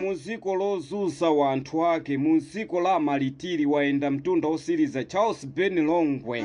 Muziko lozuza wanthu ake, muziko la amalitiri wayenda mtunda osiliza Charles Ben Longwe.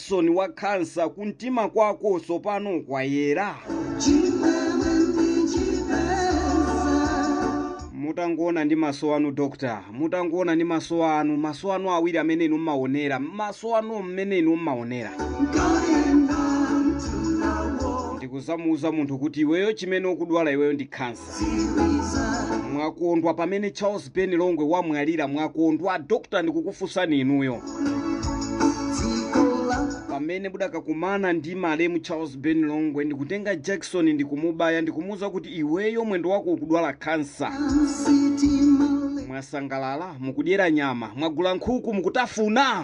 Jakisoni wa khansa kumtima kwako tsopano kwayera? mutangoona ndi maso anu doctor mutangoona ndi maso anu maso anu awiri amene inu mmaonera maso anu mmene inu mmaonera ndikuzamuuza munthu kuti iweyo chimene ukudwala iweyo ndi khansa mwakondwa pamene charles ben longwe wamwalira mwakondwa dokta ndikukufunsani inuyo pamene mudakakumana ndi malemu charles ben longwe ndikutenga jakisoni ndikumubaya ndikumuwuza kuti iweyo mwendo wako ukudwala khansa mwasangalala mukudyera nyama mwagula nkhuku mukutafuna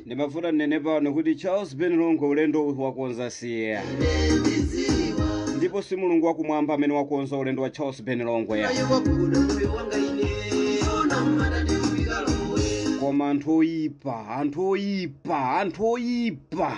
ndimafuna ndinene pano kuti charles ben longwe ulendo wakonza siye ndipo si mulungu wakumwamba amene wakonza ulendo wa charles ben longwe koma anthu oyipa anthu oyipa anthu oyipa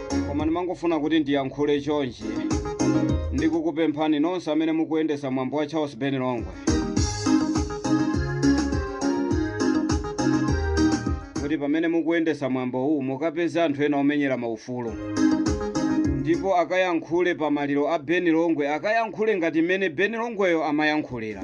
koma ndimangofuna kuti ndiyankhule chonchi ndikukupemphani nonse amene mukuyendesa mwambo wa charles ben longwe kuti pamene mukuyendesa mwambo uwu mukapeze anthu ena omenyera maufulu ndipo akayankhule pa maliro a ben longwe akayankhule ngati mmene ben longweyo amayankhulira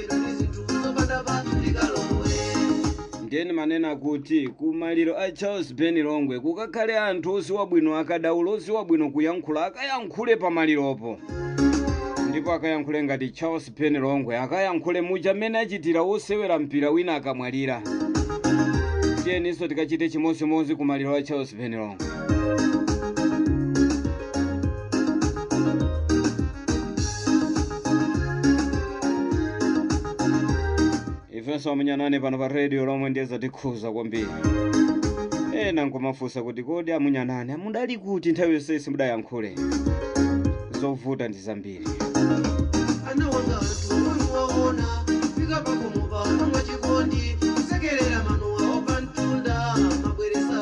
ndiye ndimanena kuti ku maliro a charles ben longwe kukakhale anthu oziwa bwino akadaulo oziwa bwino kuyankhula akayankhule pa maliropo ndipo akayankhule ngati charles ben longwe akayankhule muja mmene achitira wosewera mpira wina akamwalira tiyeninso tikachite chimodzimodzi ku maliro a charles ben longwe ifenso amunyanani pano pa radio lomwe ndiye zatikhuza kwambiri ena nkumafunsa kuti kodi amunyanani mudali kuti nthawi yonse simudayankhule zovuta ndi zambiri ana wanga anthu omwe waona fika pakomo pano mwachikondi kusekerera manowa apamtunda mabweresa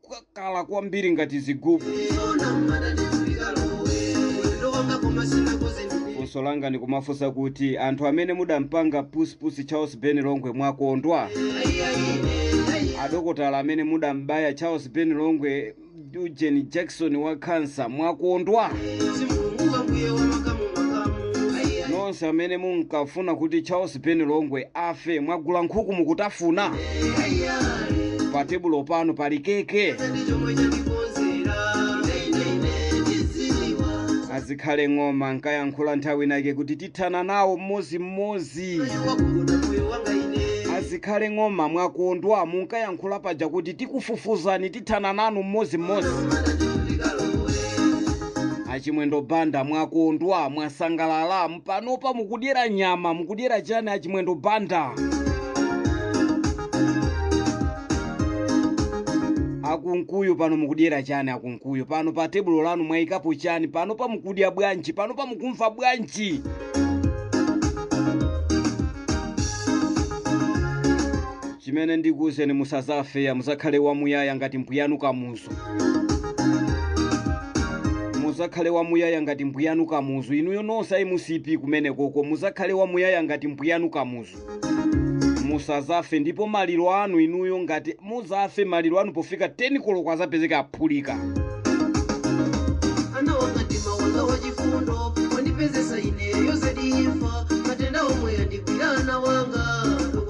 kukakala kwambiri ngati zigubu funso langa ndikumafunsa kuti anthu amene mudampanga pusipusi charles ben longwe mwakondwa adokotala amene mudambaya charles ben longwe ujeni jakisoni wa khansa mwakondwa nonse amene munkafuna kuti charles ben longwe afe mwagula nkhuku mukutafuna pa tebulo pano pali keke azikhale ng'oma nkayankhula nthawi inake kuti tithana nawo mmodzimmodzi azikhale ng'oma mwakondwa munkayankhula paja kuti tikufufuzani tithana nanu mmodzimmodzi achimwendo banda mwakondwa mwasangalala panopa mukudyera nyama mukudyera chani achimwendo banda akunkuyu pano mukudyera chani akunkuyu pano pa tebulo lanu mwayikapo chani panopa mukudya bwanji panopa mukumva bwanji chimene ndikuwuzeni musazafe muzakhale wamuyaya ngati mbuyanu kamuzu muzakhale wamuyaya ngati mbuyanu kamuzu inuyo nonse a mcp kumenekoko muzakhale wamuyaya ngati mbuyanu kamuzu musazafe ndipo maliro anu inuyo ngati muzafe maliro anu pofika 10 koloko azapezeka aphulika ana anga mtima wanga wachifundo wandipezesa ineyo zedi imfa matenda omwe andigwira ana anga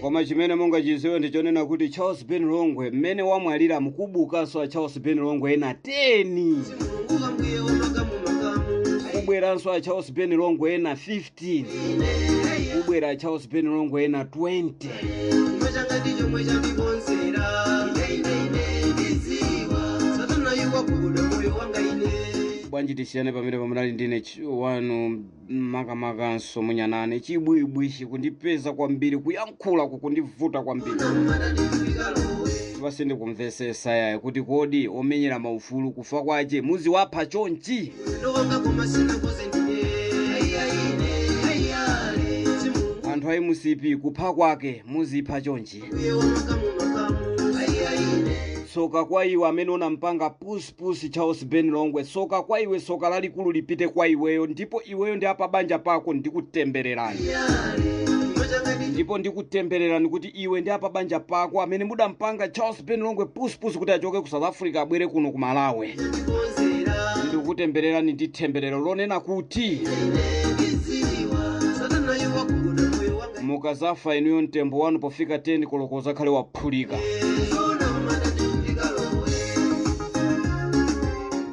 Koma chimene mungachiziwe ndi chonena kuti Charles Ben Longwe mmene wamwaliramu kubukanso a Charles Ben Longwe ena 10 kubweranso a Charles Ben Longwe ena 15 15 kubwera charles ben longwe ena 20 chuma changa ndi chomwe chandikonzera ine ine ine ndiziwa satana iwakuda moyo wanga ine bwanji tisiyane pamene pamunali ndine chi- wanu makamakanso mu Nyasaland chibwibwi chikundipeza kwambiri kuyankhula kulankhula kukundivuta kwambiri ipa sindikumvesesa yaye kuti kodi omenyera maufulu kufa kwache muziwapha chonchi anthu a mcp kupha kwake muzipha chonchi tsoka kwa iwe amene unampanga pusi Pusi Charles Ben Longwe soka kwa iwe soka lalikulu lipite kwa iweyo ndipo iweyo ndi apabanja pako ndikutembererani ndipo ndikutembererani kuti iwe ndi apabanja pako amene mudampanga Charles Ben Longwe pusipusi kuti achoke ku South Africa abwere kuno ku Malawi ndikutembererani ndi themberero lonena kuti mukazafa inuyo mtembo wanu pofika 10 koloko uzakhale wa kuphulika.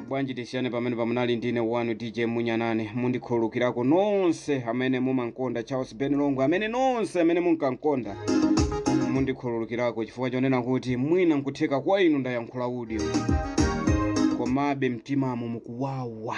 bwanji tisiyane pamene pamunali ndine wanu dj munyanane mundikhululukirako nonse amene mumankonda charles ben longwe amene nonse amene munkamkonda mundikhululukirako chifukwa chonena kuti mwina nkutheka kwa inu ndayankhula udyo komabe mtimamo mukuwawa